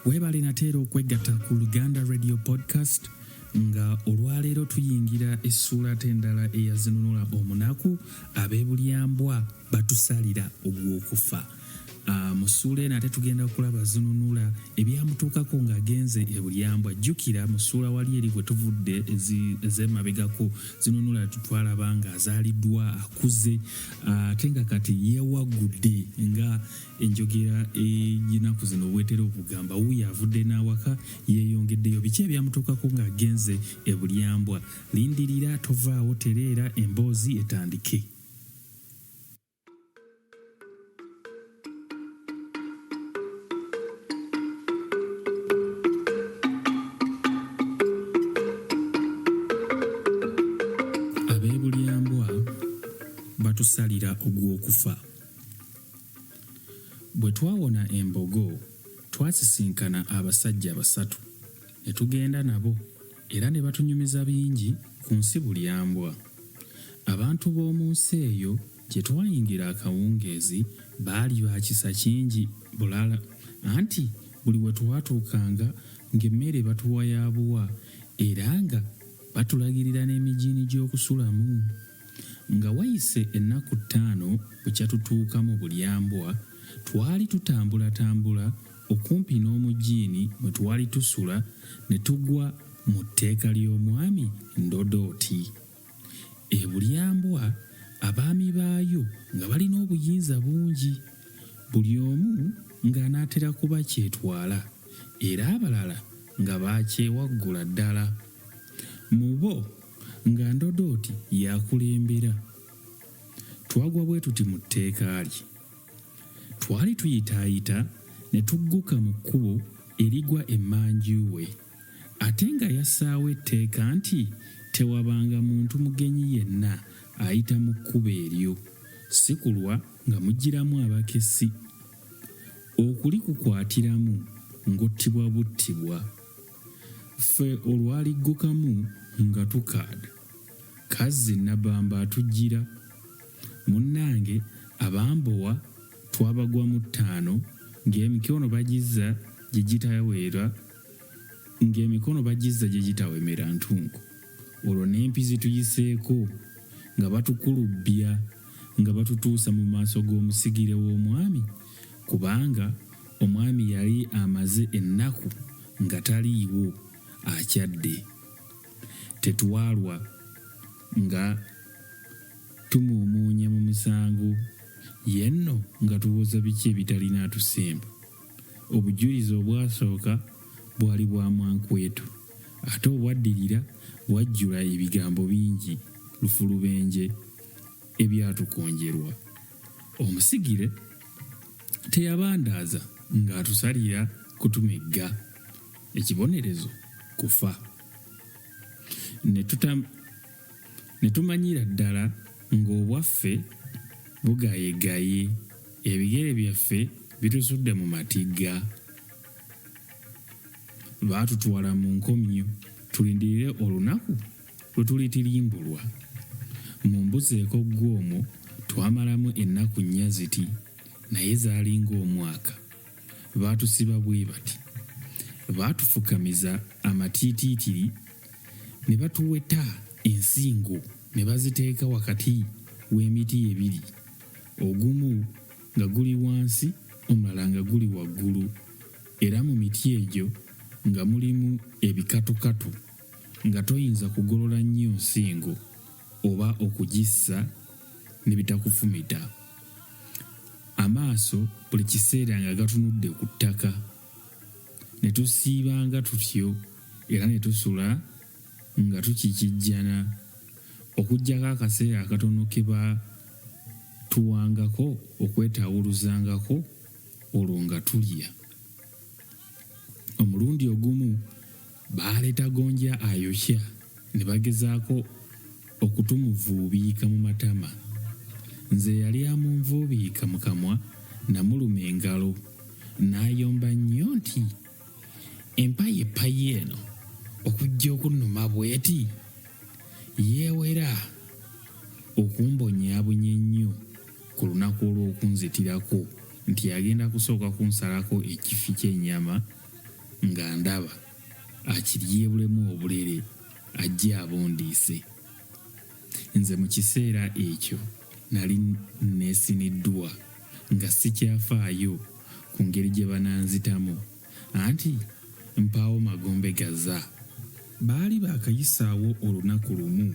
weebale nateera okwegatta ku luganda radio podcast nga olwaleero tuyingira essuula te endala eyazinunula omunaku ab'ebulyambwa batusalira ogw'okufa Ah, mu ssuula eno ate tugenda kulaba zinunula ebyamutuukako ng'agenze e bulyambwa jjukira mu ssuula wali eri bwe tuvudde ez'emabegako zinunula twalaba ng'azaaliddwa akuze ah, ate nga kati yeewaggudde nga enjogera eyinaku zino obwetera okugamba wuuyo avudde n'awaka yeeyongeddeyo biki ebyamutuukako ng'agenze e bulyambwa lindirira tovaawo tereera emboozi etandike okusalira ogw'okufa bwe twawona embogo twasisinkana abasajja basatu ne tugenda nabo Era ne batunyumiza bingi ku nsi bulyambwa. Abantu b'omu nsi eyo gye twayingira akawungeezi baali ba kisa kingi bulala, anti buli we twatuukanga ng'emmere batuwa ya buwa era nga batulagirira n'emijiini gy'okusulamu. Nga wayise ennaku ttaano bukya tutuuka mu Bulyambwa, twali tutambulatambula okumpi n'omujiini mwe twali tusula ne tugwa mu tteeka ly'omwami Ndodooti. E Bulyambwa abaami baayo nga balina obuyinza bungi, buli omu ng'anaatera kuba kyetwala era abalala nga baakyewaggula ddala. Mu bo. nga ndodooti yakulembera twagwa bwe tuti mu tteeka lye twali tuyitaayita ne tugguka mu kkubo erigwa emmanju we ate nga yassaawo etteeka nti tewabanga muntu mugenyi yenna ayita mu kkubo eryo si kulwa nga mugiramu abakessi okulikukwatiramu ng'ottibwa buttibwa Ffe olwaliggukamu nga tukaada, Kazzi Nabamba atujjira. Munnange abambowa twabagwamu ttaano ng'emikono bagizza gye gitawera ng'emikono bagizza gye gitawemera ntunku. Olwo n'empi zituyiseeko nga batukulubbya nga batutuusa mu maaso g'omusigire w'omwami kubanga omwami yali amaze ennaku nga taliiwo akyadde. Tetwalwa nga tumuumuunya mu misango ye nno nga tuwoza biki ebitalina atusemba. Obujulizi obwasooka bwali bwa mwankwetu ate obwaddirira bwajjula ebigambo bingi lufulubenje. ebyatukonjerwa. Omusigire teyabandaaza ng'atusalira kutumegga, ekibonerezo kufa. Ne tuta ne tumanyira ddala ng'obwaffe bugayegaye, ebigere byaffe bitusudde mu matigga. Baatutwala mu nkomyo tulindirire olunaku. Lwe tulitirimbulwa, mumbuzeeko ggwe omwo twamalamu ennaku nnya ziti naye zaali ng'omwaka. Baatusiba bwe bati. Baatufukamiza amatiitiitiri ne batuweta ensingo ne baziteeka wakati w'emiti ebiri, ogumu nga guli wansi omulala nga guli waggulu, era mu miti egyo nga mulimu ebikatukatu. nga toyinza kugolola nnyo nsingo oba okugissa ne bitakufumita. Amaaso buli kiseera nga gatunudde ku ttaka. Ne tusiibanga tutyo era ne tusula nga tukikijjana okuggyako akaseera akatono ke ba tuwangako okwetaawuluzangako olwo nga tulya. Omulundi ogumu baaleta gonja ayokya ne bagezaako okutumuvuubiika mu matama. Nze eyali amunvuubiika mu kamwa namuluma engalo n'ayomba nnyo nti, Empayi epayi eno okujja okunnuma bweti? Yeewera okumbonyaabonya ennyo. ku lunaku olw'okunzitirako nti agenda kusooka kunsalako ekifi ky'ennyama nga ndaba akiryebulemu obulere ajje abundiise. Nze mu kiseera ekyo nali neesiniddwa nga sikyafaayo ku ngeri gye bananzitamu anti mpaawo magombe gaza. Baali baakayisaawo olunaku lumu.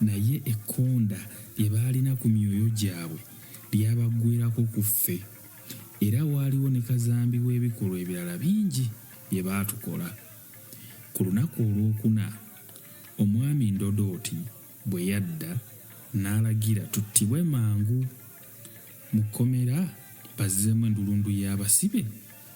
Naye ekkonda lye baalina ku myoyo gyabwe lyabaggweerako ku ffe. Era waaliwo ne kazambi w'ebikolwa ebirala bingi bye baatukola. Ku lunaku olwokuna, Omwami Ndodooti bwe yadda n'alagira tuttibwe mangu, mu kkomera bazzeemu endulundu y'abasibe.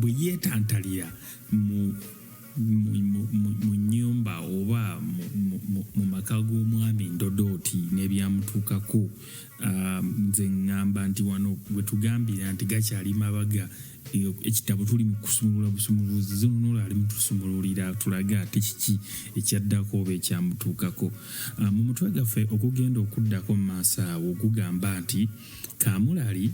bwe yeetantalira mu nyumba oba mu maka g'omwami ndodooti n'ebyamutuukako um, nze ŋŋamba nti wano bwe tugambira nti gakyali mabaga ekitabo tuli mu kusumulula busumuluzi zonunula ali mutusumululira tulaga ate kiki ekyaddako oba ekyamutuukako ah, mu mutwe gaffe okugenda okuddako mu maaso awo ogugamba nti kamulali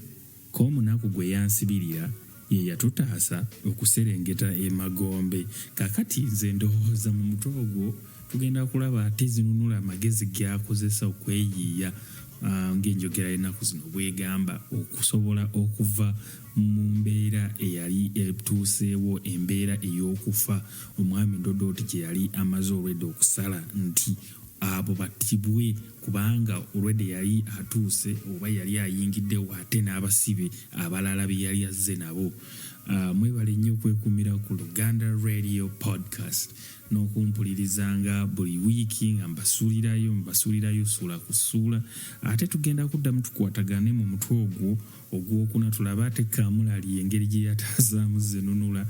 Ko omunaku gwe yansibirira ye yatutaasa okuserengeta e magombe kakati nze ndowoza mu mutwe ogwo tugenda kulaba ate zinunula amagezi gyakozesa okweyiiya ah, ng'enjogera y'ennaku zino bwegamba okusobola okuva mu mbeera eyali etuuseewo embeera ey'okufa omwami ndodooti gye yali amaze olwedda okusala nti abo battibwe kubanga already yali atuuse oba yali ayingiddewo ate n'abasibe abalala be yali azze nabo uh, mwebale nnyo okwekumira ku luganda radio podcast n'okumpulirizanga buli wiiki nga mbasuulirayo mbasuulirayo suula ku suula ate tugenda kuddamu tukwatagane mu mutwe ogwo Ogwokuna tulabe ate Kaamulali engeri gye yataazaamu Zenunula.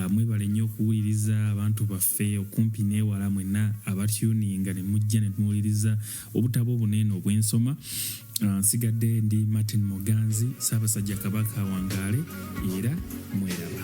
Mwebale nnyo okuwuliriza abantu baffe okumpi n'ewala mwenna abatuuninga ne mujja ne muwuliriza obutabo obuno eno bwe nsoma. Nsigadde ndi Martin Muganzi, Ssaabasajja Kabaka awangaale era mweraba.